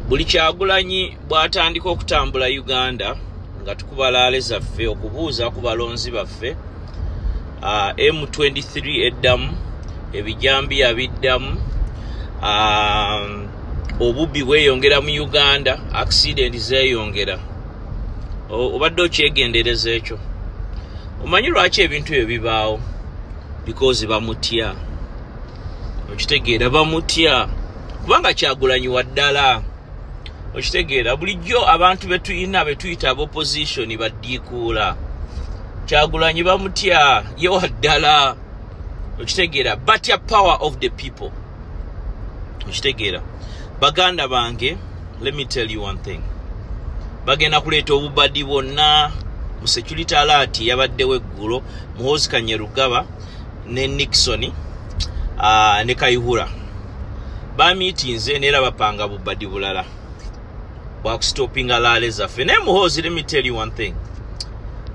buli kyagulanyi bwatandika okutambula uganda nga tukuba laale zaffe okubuuza ku balonzi baffe uh, m23 eddamu ebijambiya biddamu um, obubbi bweyongera mu uganda accidenti zeyongera obadde okyegendereza ekyo omanyi lwaki ebintu ebyo bibaawo because bamutya okitegeera bamutya kubanga kyagulanyi wa ddala okitegeera bulijjo abantu betulina betuyita aba opposition baddiikuula kyagulanyi bamutya ye wa ddala okitegeera batya power of the people okitegeera baganda bange let me tell you one thing bagenda kuleeta obubadi bwonna mu security alaati yabaddewo eggulo muhoozi kanyerugaba ne nixon uh, ne kaihura bamitinze neera bapanga bubadi bulala bwakusitopinga laale zaffe naye muhoozi let me tell you one thing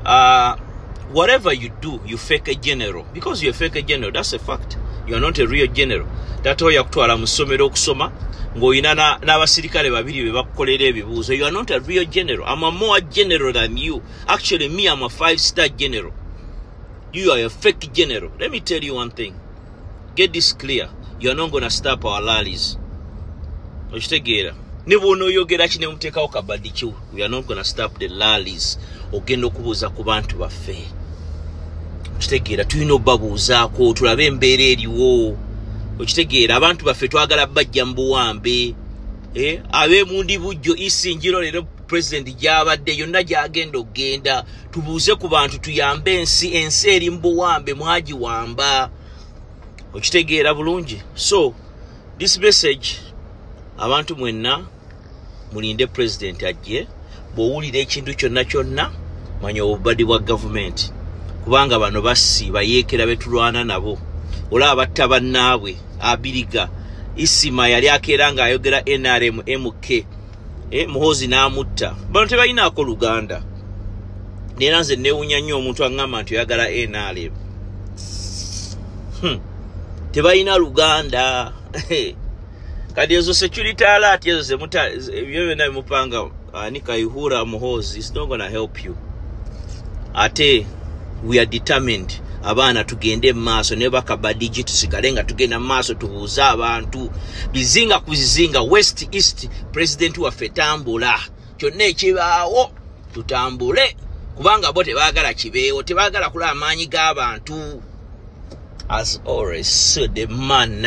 uh, whatever you do you fake a general because you fake a general that's a fact you are not a real general tata oyo yakutwala mu ssomero okusoma ng'olina n'abasirikale babiri be bakukolera ebibuuzo you are not a real general am a more general than you actually me am a five star general You are a fake general. Let me tell you one thing. Get this clear. You are not going to stop our rallies. Oshtegera. Nibu uno yogera chine umteka ukabadichu. We are not going to stop the rallies. Ogendo kubuza kubantu wa fe. Oshtegera. Tu ino babu uzako. Tulabe mbere eri wo. Oshtegera. Abantu wa fe. Tu agala bajambu wambe. Eh? Awe mundi bujo isi njiro lero president java de. Yonda jagendo genda. Oshtegera. tubuuze ku bantu tuyambe ensi ensi eri mubuwambe mwagiwamba okitegeera bulungi so this message abantu mwenna mulinde president ajje bwowulira ekintu kyonna kyonna manya obubadi bwa gavumenti kubanga bano bassi bayeekera betulwana nabo olaba batta bannaabwe abiriga isima yali akeera ng'ayogera nrm mk e, muhozi n'amutta bano tebalinaako luganda neera nze newunya nnyo omuntu aŋŋamba nti oyagala nrm hmm. tebalina luganda kati ezo security alert ezo zemuta ebyo byonna bimupanga ani kaihura muhozi is not gonna help you ate we are determined abaana tugende mumaaso naye bakaba digit sigale nga tugenda mumaaso tubuuze abantu bizinga ku zizinga west east pulezidenti waffe tambula kyonna ekibaawo tutambule kubanga bo tebaagala kibeewo tebaagala kula amaanyi g'abantu as always so the man